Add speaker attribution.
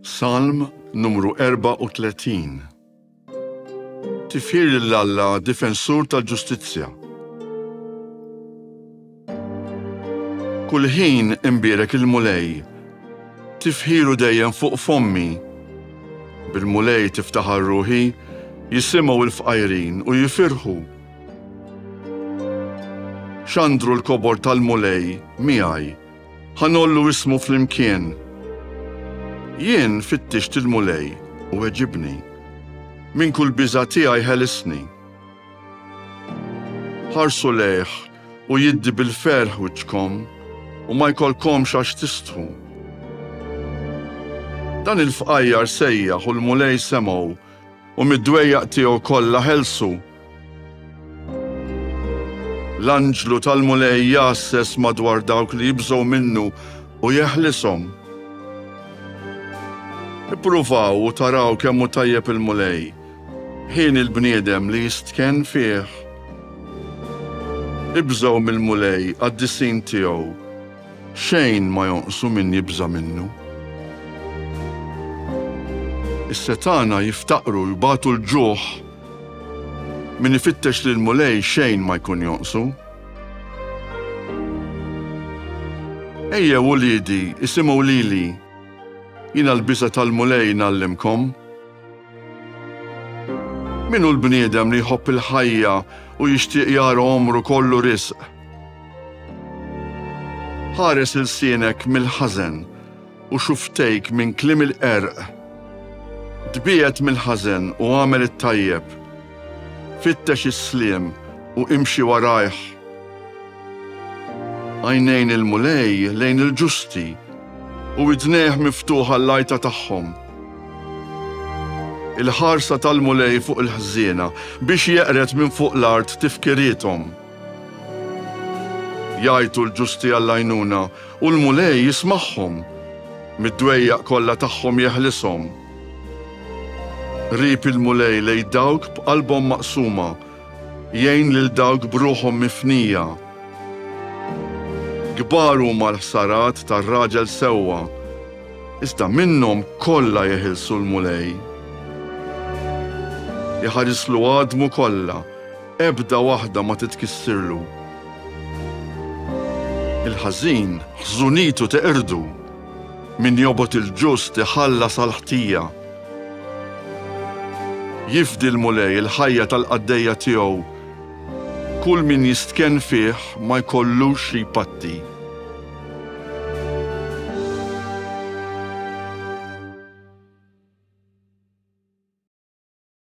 Speaker 1: Salm numru 34 Tifir l alla difensur tal-ġustizzja. Kull ħin imbierek il-Mulej, tifħiru dejjem fuq fommi. Bil-Mulej tiftaħar ruħi, jisimgħu l-fqajrin u jifirħu. Xandru l-kobor tal-Mulej miegħi Ħa ngħollu ismu flimkien. Jien fittixt il-Mulej u weġibni, minn kull biża' tiegħi ħelisni. Ħarsu lejh u jiddi bil-ferħ wiċċkom u ma jkollkomx għax tistħu. Dan il-fqajjar sejjaħ u l-Mulej semgħu U mid-dwejjaq tiegħu kollha ħelsu. L-anġlu tal-Mulej jgħasses madwar dawk li jibżgħu minnu u jeħlishom. Ippruvaw u taraw kemm hu tajjeb il-Mulej, ħieni l-bniedem li jistkenn fih. Ibżgħu mill-Mulej, qaddisin tiegħu. Xejn ma jonqsu min jibża' minnu. Is-setgħana jiftaqru, jbatu l-ġuħ. Min ifittex lill-Mulej xejn ma jkun jonqsu. Ejjew uliedi, isimgħu lili, jiena l-biża' tal-Mulej ngħallimkom. Min hu l-bniedem li jħobb il-ħajja u jixtieq jara għomru kollu riżq? Ħares ilsienek mill-ħażen u xuftejk minn kliem il-qerq. Tbiegħed mill-ħażen u agħmel it-tajjeb. Fittex is-sliem u imxi warajh. Għajnejn il-Mulej lejn il-ġusti u widnejh miftuħa l-lajta tagħhom. Il-ħarsa tal-Mulej fuq il-ħżiena biex jeqred minn fuq l-art tifkirithom. Jgħajtu l-ġusti għall-għajnuna u l-Mulej jismagħhom, mid-dwejjaq kollha tagħhom jeħlishom. Qrib il-Mulej lejn dawk b'qalbhom maqsuma, jgħin lil dawk b'ruħhom mifnija. Kbar huma l-ħsarat tar-raġel sewwa, iżda minnhom kollha jeħilsu l-Mulej. Iħarislu għadmu kollha, Ebda waħda ma titkissirlu. Il-ħażin ħżunitu teqirdu, min jobgħod il-ġust iħallas għall-ħtija. Jifdi l-Mulej il-ħajja tal-qaddejja tiegħu, kull min jistkenn fih ma jkollux xi jpatti.